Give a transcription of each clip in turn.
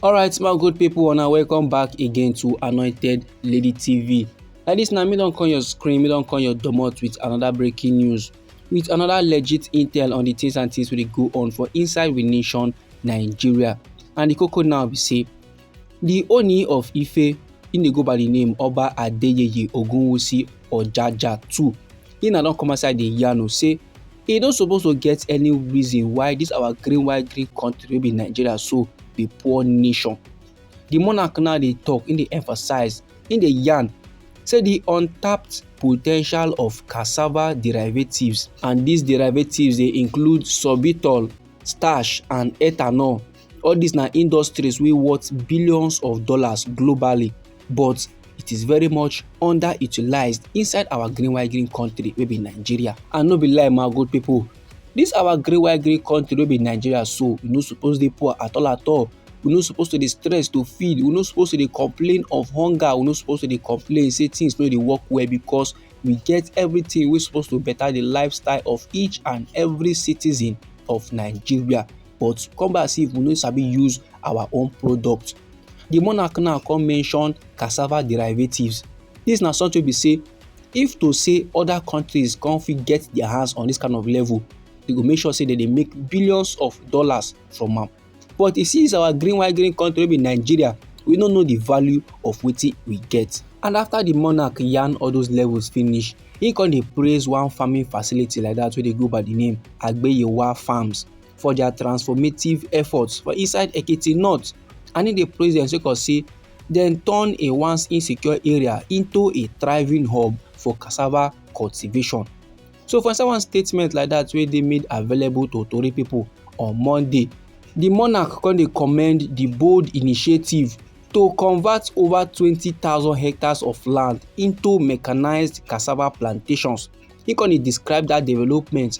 alright my good people and welcome back again to anointed lady tv like this now me don't call your screen me don't call your domot with another breaking news with another legit intel on the things and things will go on for inside the nation nigeria and the cocoa now we say Di Ooni of Ife, im dey go by di name Oba Adeyeye Ogunwusi Ojaja too, im na don come outside dey yarn o say e no suppose to get any reason why dis our green white green country wey be Nigeria so be poor nation. Di monarch now dey talk, im dey emphasize, im dey yarn say di untapped potential of cassava derivatives and dis derivatives dey include sorbitol, starch and ethanol. all these na industries wey worth billions of dollars globally but it is very much underutilized inside our green white green country wey be nigeria and no be lie my good people this our green white green country wey be nigeria so we no suppose dey poor at all at all we no suppose to dey stress to feed we no suppose to dey complain of hunger we no suppose to dey complain say things no dey work well because we get everything wey suppose to better the lifestyle of each and every citizen of nigeria but come back see if we no sabi use our own product the monarch now come mention cassava derivatives this na something be say if to say other countries come fit get their hands on this kind of level they go make sure say they dey make billions of dollars from am but e see our green white green country wey be nigeria we no know the value of wetin we get and after the monarch yarn all those levels finish he come dey praise one farming facility like that wey dey go by the name agbeyewa farms for their transformative efforts for inside Ekiti North and he dey praise them sake of say dem turn a once insecure area into a thriving hub for cassava cultivation. So for inside one statement like that wey dey made available to Tori people on Monday, the monarch come dey commend the bold initiative to convert over 20,000 hectares of land into mechanized cassava plantations. He come dey describe that development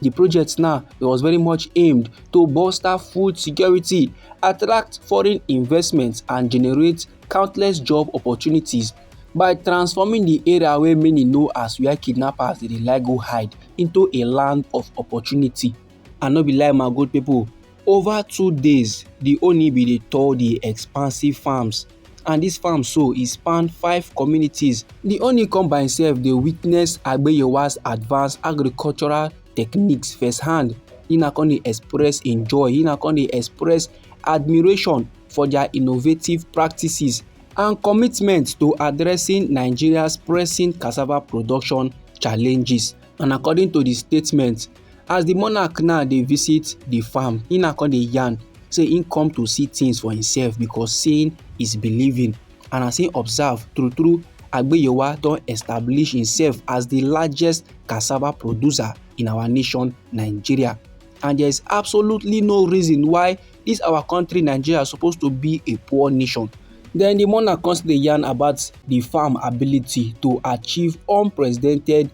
The project now was very much aimed to bolster food security, attract foreign investment and generate countless job opportunities by transforming the area wey many know as where kidnappers dey like go hide into a land of opportunity. And no be lie my good people, over two days the Oni bin dey tour the expansive farms and this farm so e span five communities. The honey come by himself dey witness Agbeyewa's advanced agricultural techniques firsthand. He na come dey express im joy, he na come dey express admiration for their innovative practices and commitment to addressing Nigeria's pressing cassava production challenges. And according to the statement, as the monarch now dey visit the farm he now come dey yarn say he come to see things for himself because seeing is believing and as he observe true true agbeyowa don establish himself as the largest cassava producer in our nation nigeria and there is absolutely no reason why this our country nigeria suppose to be a poor nation then the monarch come still dey yarn about the farm ability to achieve unprecedented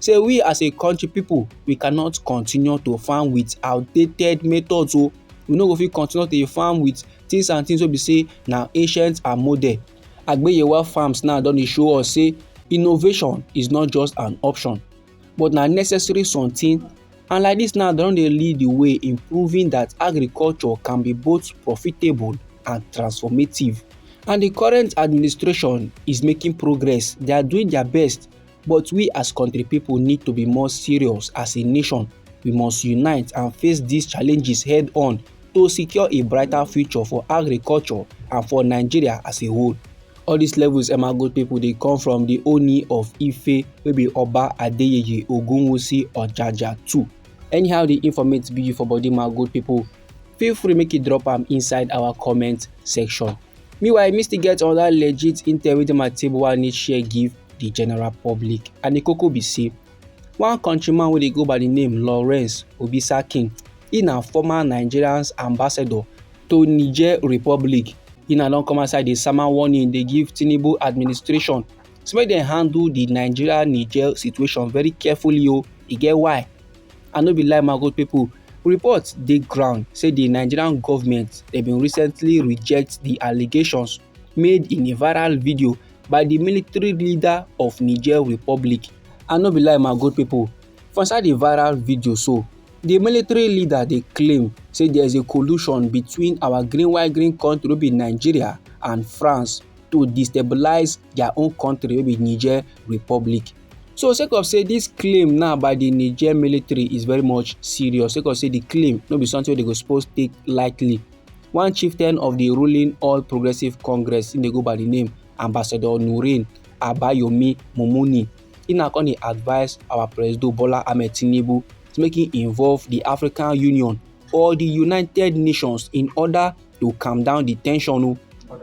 say we as a country people we cannot continue to farm with outdated methods o we no go fit continue to farm with things and things wey be say na ancient and modern agbeyewa farms now don dey show us say innovation is not just an option but na necessary something and like this now dem don dey lead the way in proving that agriculture can be both profitable and transformative and the current administration is making progress they are doing their best But we as country people need to be more serious as a nation. We must unite and face these challenges head on to secure a brighter future for agriculture and for Nigeria as a whole. All these levels Emago people they come from the Oni of Ife wey be Oba Adeyeye Ogunwusi Ojaja too. Anyhow the informate be for body my good people, feel free make you drop am inside our comment section. Meanwhile, me still get another legit intel wey dey my table wey I need share give the general public and the koko be say one countryman wey dey go by the name Lawrence Obisakin, he na former Nigerian ambassador to Niger Republic. He na don come outside dey sama warning dey give Tinubu administration say make dem handle the Nigeria-Niger situation very carefully o, e get why. and no be lie my good people reports dey ground say di nigerian goment dem bin recently reject di allegations made in a viral video by di military leader of niger republic and no be lie my good people for inside di viral video so di military leader dey claim say there is a collusion between our green white green country wey be nigeria and france to destabilise their own country wey be niger republic So sake of say this claim now by the Niger military is very much serious sake of say the claim no be something wey dey go suppose take lightly. One chieftain of the ruling All Progressive Congress im dey go by the name Ambassador Nurin Abayomi Mumuni im na come dey advise our President Bola Ahmed Tinubu to make im involve the African Union or the United Nations in order to calm down the tension o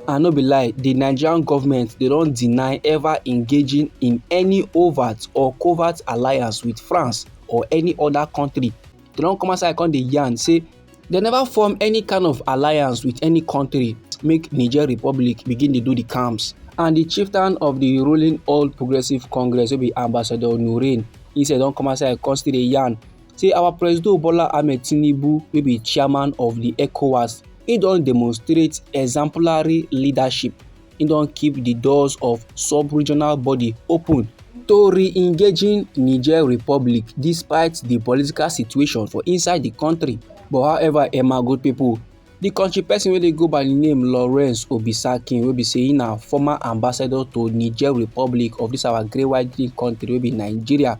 and no be lie the nigerian government dey don deny ever engaging in any overt or covert alliance with france or any other country they don come outside come dey yarn say they never form any kind of alliance with any country make niger republic begin dey do the camps and the chieftain of the ruling all progressives congress wey be ambassador nurin he say don come outside come still dey yarn say our Presido Bola Ahmed Tinubu wey be chairman of the ECOWAS, he don demonstrate exemplary leadership, he don keep the doors of sub-regional body open to re-engaging Niger Republic despite the political situation for inside the country. But however, Emma good people, the country person wey dey go by the name Lawrence Obisakin wey be say he na former ambassador to Niger Republic of this our great white country wey be Nigeria.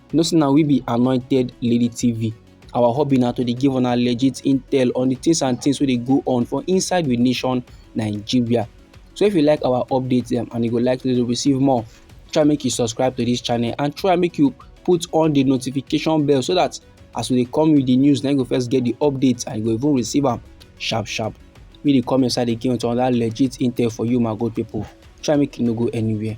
You know say na we be Anointed Lady TV. Our hobby na to dey give una legit intel on the things and things wey dey go on for inside we nation Nigeria. So if you like our updates dem and you go like to receive more, try make you subscribe to this channel and try make you put on the notification bell so that as we dey come with the news, na you go first get the updates and you go even receive am sharp sharp. Make you dey come inside again with another legit intel for you my good people. Try make you no go anywhere.